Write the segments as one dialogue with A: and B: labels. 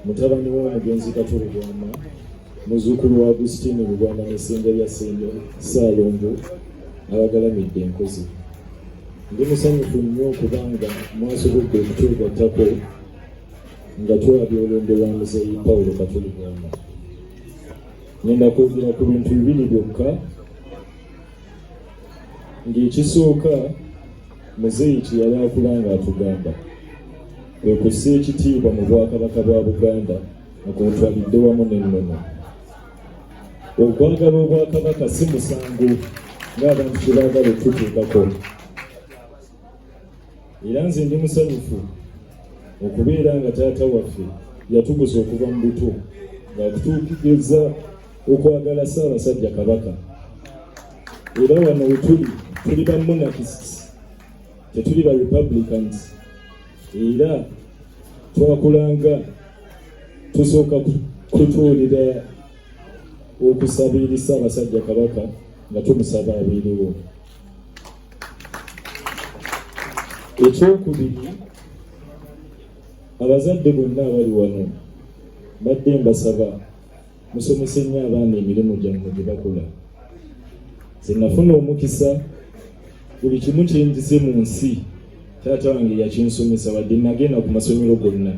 A: mutabani w'omugenzi Katuli Bwama muzuukulu wa Agustine Lubwama ne Ssengalya Ssaalongo abagalamidde enkozi. Ndi musanyufu nnyo okuba nga mwasobodde okutwegattako nga twabya olumbe lwa muzeeyi Pawulo Katuli Bwama. Ngenda kwogera ku bintu bibiri byokka ng'ekisooka muzeeyi kye yali akula ng'atugamba kwe kussa ekitiibwa mu bwakabaka bwa buganda nga kwotwalidde wamu n'ennono okwagala obwakabaka si musango ng'abantu kye baagala okututuukako era nze ndi musanyufu okubeera nga taata waffe yatuguza okuva mu buto ng'atutuukiriza okwagala ssaabasajja kabaka era wano wetuli tuli bamunakisi Tetuli ba Republicans era twakulanga tusooka kutuulira okusabiri Ssaabasajja Kabaka nga tumusaba abeerewo. Ekyokubiri, abazadde bonna abali wano mbadde mbasaba musomese nnyo abaana emirimu gyammwe gye bakola nze nafuna omukisa buli kimu kyenjize mu nsi taata wange yakinsomesa wadde nagenda ku masomero gonna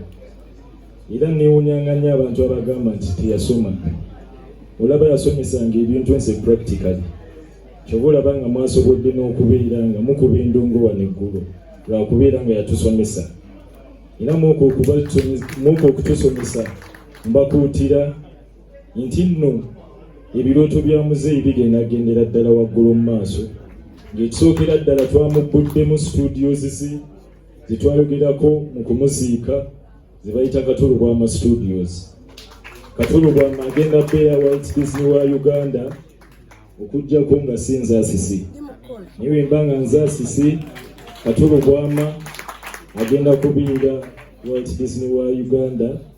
A: era newunyanga nnyo abantu abagamba nti teyasoma olaba yasomesanga ebintu nse practically kyoba olaba nga mwasobodde n'okubeera nga mukuba endongo wano eggulu lwakubeera nga yatusomesa era muko okutusomesa mbakuutira nti nno ebirooto bya muzeeyi bigenda gendera ddala waggulu mu maaso ng'ekisookera ddala twamugguddemu studios ze ze twayogerako mu kumuziika ze bayita katulubwama studios katulubwama agenda beya walt disney wa uganda okujjako nga si nzasisi naye wemba nga nzasisi katulubwama agenda kubiira walt disney wa uganda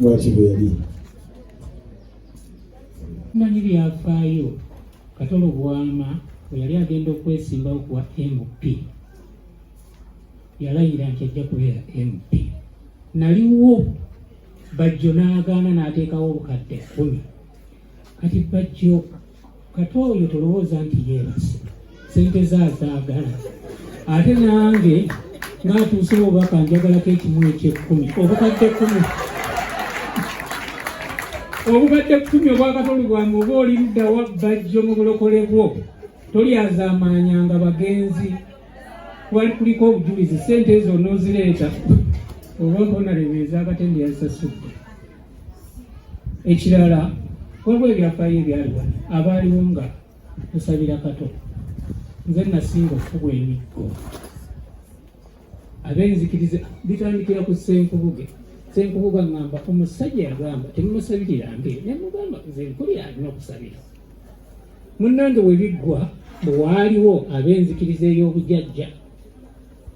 B: lwaki
C: bwe yali manyi byafaayo katolo bwama bwe yali agenda okwesimbawo kuwa mp yalayira nti ajja kubeera mp naliwo bajjo n'agaana n'ateekawo obukadde kkumi kati bajjo kati oyo tolowooza nti yeebase sente ze azaagala ate nange ng'atuuse obubaka njagalako ekimu ekyekkumi obukadde kkumi obukadde kkumi obwakatoli bwange oba oli luddawa bajjo mu bulokole bwo tolyazaamaanyanga bagenzi wali kuliko obujulizi sente ezo onoozireeta oba mponarebeeza akatende yazisasudde ekirala waliwo ebyafaayo ebyali wano abaaliwo nga tusabira kato nze nasinga okukubwa emiggo abenzikiriza bitandikira ku senkubuge senkubuga ngamba omusajja yagamba temumusabirira mbe nemugamba nze nkulira alina okusabira munnange webiggwa bwewaaliwo abenzikiriza ey'obujajja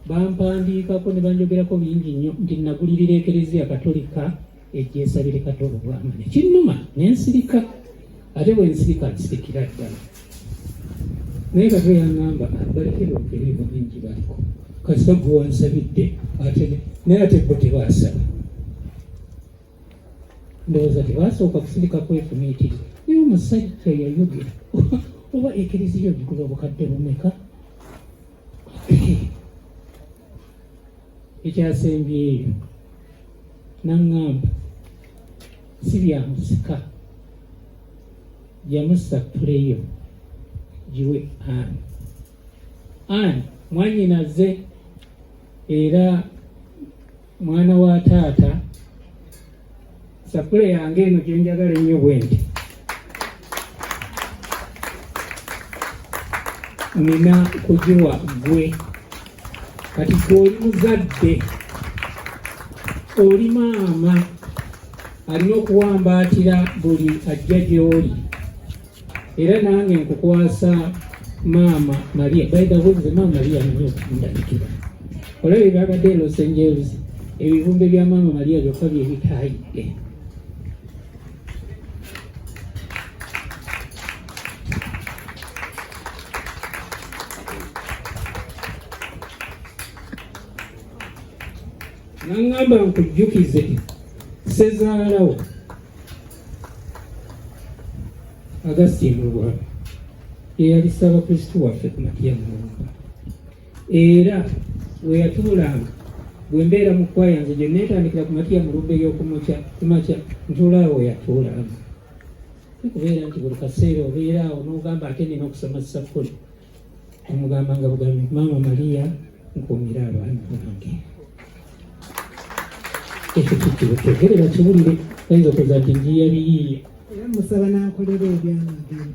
C: Bampandiikako ne banjogerako bingi nnyo nti nagulirira ekereziya katolika egyesabire katolo bwama ne kinnuma ne nsirika ate bwe nsirika nsirikira ddala naye kato yangamba abalekere okeriimu bingi baliko kasita gwe wansabidde ate naye ate bo tebaasaba ndowooza tebaasooka kusirika kwefumiitiri naye omusajja yayogera oba ekereziya ogigula obukadde bumeka ekyasembyeyo naŋŋamba si bya musika yamusattuleyo giwe ani ani mwanyinaze era mwana wa taata sapule yange eno gyenjagala ennyo bwenti nina kugiwa gwe kati koli muzadde oli maama alina okuwambaatira buli ajja gy'oli era nange nkukwasa maama maria baidaweze maama maria nyo okundabikira olaba ebyabadde e los angeles ebivumbe bya maama maria byokka byebitayidde naŋŋamba nkujjukize sezaalawo Augustine Luwalo eyali Ssaabakristu waffe ku Matia Mulumba era we yatuulanga bwe mbeera mu kkwa yange gye neetandikira ku Matia Mulumba ey'okumakya kumakya ntuula awo yatuulanga kubeera nti buli kaseera obeera awo n'ogamba ate nina okusoma ssakuli omugamba nga bugambi maama maria nkuumire abaana bange ekyo kikirukegere bakiwulire ayinza okuza nti njiya biyiiye era musaba
D: nankolera ebyamagero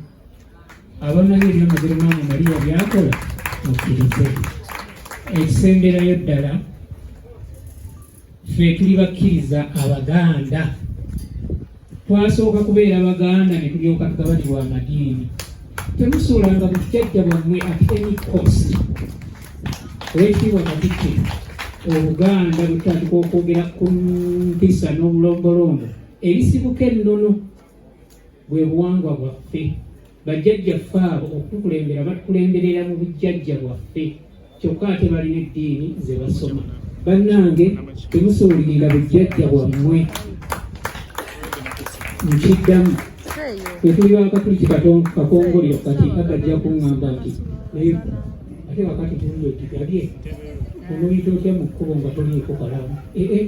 C: abamanyi ebyamagero maama maria byakola mukkirize ekisemberayo ddala ffe tuli bakkiriza abaganda twasooka kubeera baganda ne tulyoka tugabanibwa amadiini temusuulanga bujjajja bwammwe at any cost olwekitiibwa katikke obuganda butandika okwogera ku mpisa n'obulombolombo ebisibuka ennono bwe buwangwa bwaffe bajjajjaffe abo okutukulembera batukulemberera mu bujjajja bwaffe kyokka ate balina eddiini ze basoma bannange temusuulirira bujjajja bwammwe nkiddamu wetuli wakatuli kikakongoliro kati agajja kuŋŋamba nti naye ate wakati tulio otigabye onoyita otya mu kkubo nga toliiko kalamu ee eh, eh.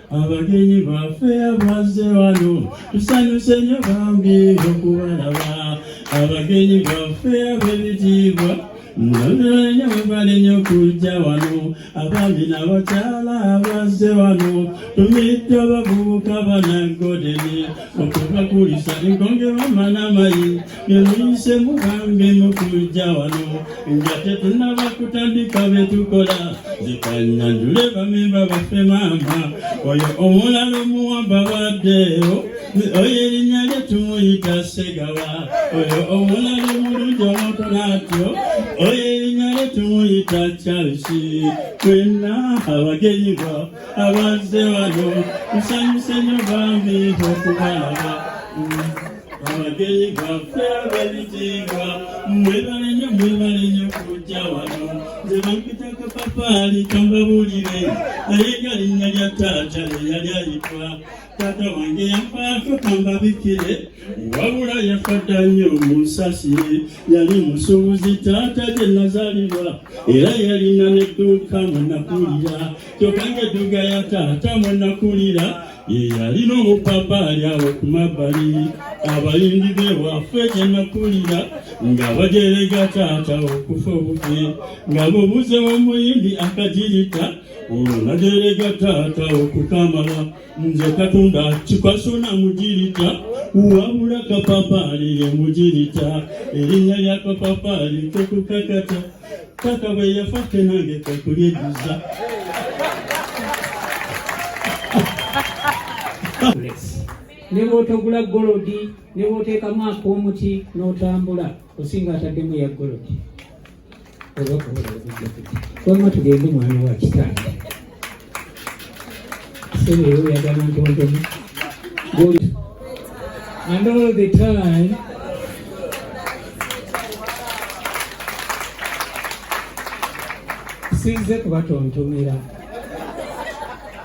E: abagenyi baffe abazze wano tusanyuse nyo bambi okubalaba abagenyi baffe ab'ebitiibwa Mwananya webale nyo kujja wano abaami n'abakyala abazze wano tumidde abavubuka banagodeni okubakulisa enkonge bamana mayi Nze mugambe mukujja wano nga tetunaba kutandika bye tukola zikanyandule bamemba baffe maama oyo omulala omuwamba baddeewo oyo erinnya lye tumuyita segawa oyo omulala omulungi omukona atyo oyo erinnya lye tumuyita charisi twenna abagenyi bo abazze wano nsanyuse nyo bambi okubalaba abagenyi baffe abebitiibwa mwebale nnyo mwebale nnyo kujja wano nze bampita kapapaali kambabuulire naye nga linnya lya taata eyali ayitwa taata wange yafaako kambabikire wabula yafadda nnyo munsasire yali musuubuzi taata gye nazaalibwa era yalina n'edduuka mwe nakulira kyokka ng'edduuka ya taata mwe nakulira yeyalina omupapaali awo ku mabbali abayimbi be waffe gyenakulira nga bajerega taata okufa obufi nga bubuze womuyimbi akajirita olwo najerega taata okukamala nze katonda kikasona mujirita wabula kapapaali ye mujirita erinnya lya kapapaali kokukakata kaka bwe yafa ffe nange kwetulyejjuza
C: ne bw'otogula golodi ne bw'oteekamu ak'omuti n'otambula osinga ataddemu ya golodi oba kuba tugende mwana wa kitaani And all the time sinze kubatontomera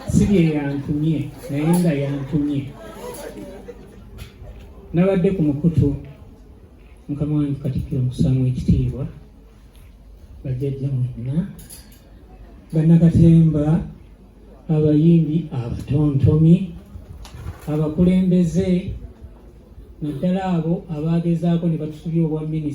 C: sibye yantumye naye nga yantumye nabadde ku mukutu mukama wange katikkiro mukusaamu ekitiibwa bajjajja mwenna bannakatemba abayimbi abatontomi abakulembeze naddala abo abaagezaako ne batusubya obwa minisita